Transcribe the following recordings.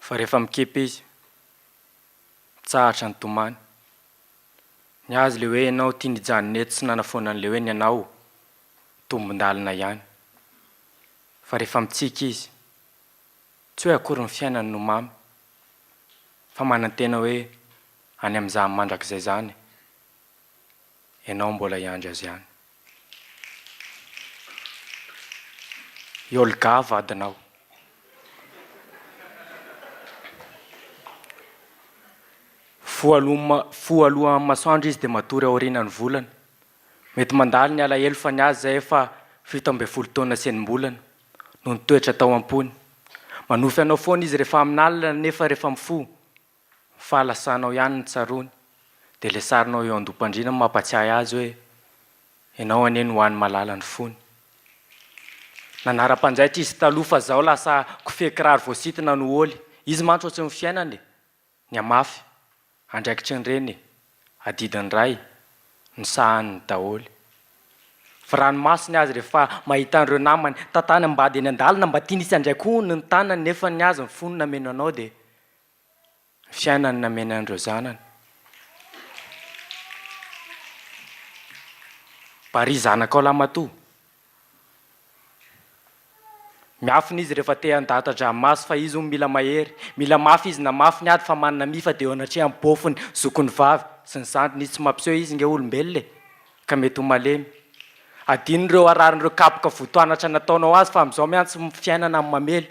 Fa rehefa mikepe izy, mitsahatra ny tomany. Ny azy le hoe ianao tia nijanona eto sy nanafoana an'le hoe ny anao tombon-dalina ihany. Fa rehefa mitsiky izy, Tsy hoe akory ny fiainany no mamy, fa manantena hoe any amin'izany mandrakizay izany ianao mbola hiandry azy any. I Olga vadinao. Fo aloha, fo aloha amin'ny masoandro izy dia matory aorianan'ny volana. Mety mandalo ny alahelo fa ny azy izay efa fito ambin'ny folo taona sy enim-bolana. no nitoetra tao am-pony. Manofy anao foana izy rehefa amina alina nefa rehefa mifoha, ny fahalasanao ihany no tsaroany. Dia ilay sarinao eo an-dompandriana no mampatsiahy azy hoe, ianao anie no ho any malala ny fony. Nanara-panjaitra izy taloha fa izao lasa kofehy kiraro voasintona no oly. Izy mantsy ohatry ny fiainana e! Nihamafy, andraikitry ny reny e, adidy ny ray, ny sahaniny daholo. Fa raha ny masony azy rehefa mahita an'ireo namany tantany ambady eny an-dalana mba tiany hisy handray kohony ny tanany nefa ny azy ny fony nameno anao dia ny fiainany nameno an'ireo zanany. Bary zanakao lahy matoa Miafina izy rehefa te handahatra dramaso fa izy hono mila mahery, mila mafy izy na mafy ny ady fa manana mifa dia eo anatrehan'ny bôfiny, zokiny vavy, sy ny zandriny izy tsy mampiseho izy nge olombelona e! ka mety ho malemy. Adino ireo hararin'ireo kapoka votoanatra nataonao azy fa amin'izao mihantsy fiainana amin'ny mamely.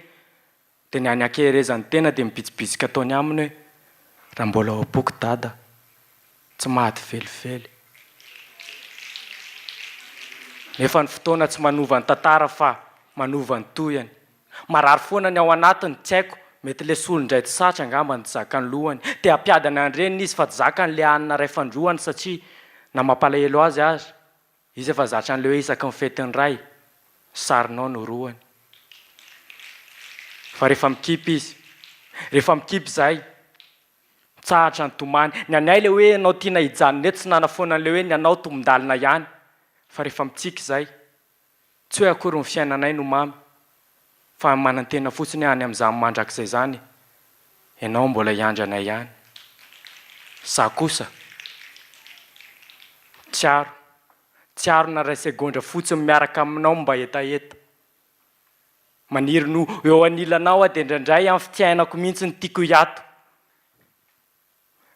Dia ny any ankeherezan'ny tena dia mibitsibitsika ataony aminy hoe, Raha mbola ao am-poko Dada, tsy maty velively. Nefa ny fotoana tsy manova ny tantara fa manova ny tohiny. Marary foana ny ao anatiny, tsy haiko, mety le solo indray tsy satry angamba no tsy zakan'ny lohany. Te hampiadana ny reniny izy fa tsy zakany le hanina ray fandroany satria na mampalahelo azy aza, Izy efa zatra an'leo isaky ny fety ny ray, sarinao no roany. Fa rehefa mikipy izy, rehefa mikipy zay, mitsahatra ny tomany. Ny anay le hoe anao tiana hijanona eto tsy nanafoana an'le hoe ny anao tombondalina ihany, fa rehefa mitsiky zay, Tsy hoe akory ny fiainanay no mamy fa manantena fotsiny hoe any amin'izany mandrakizay izany ianao mbola hiandry anay ihany. Izaho kosa tsy aro, tsy aro na iray segondra fotsiny miaraka aminao mba hetaheta. Maniry ny ho eo anilanao aho dia indraindray amin'ny fiainako mihitsy no tiako hiato.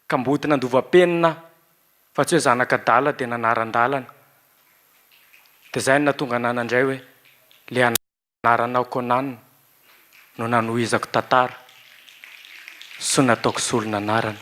Kamboty nandova penina aho fa tsy hoe zanak'adala dia nanaran-dalana. Dia izay no nahatonga anà nandray hoe ilay anaranao Conan no nanohizako tantara sy nataoko solon'anarana.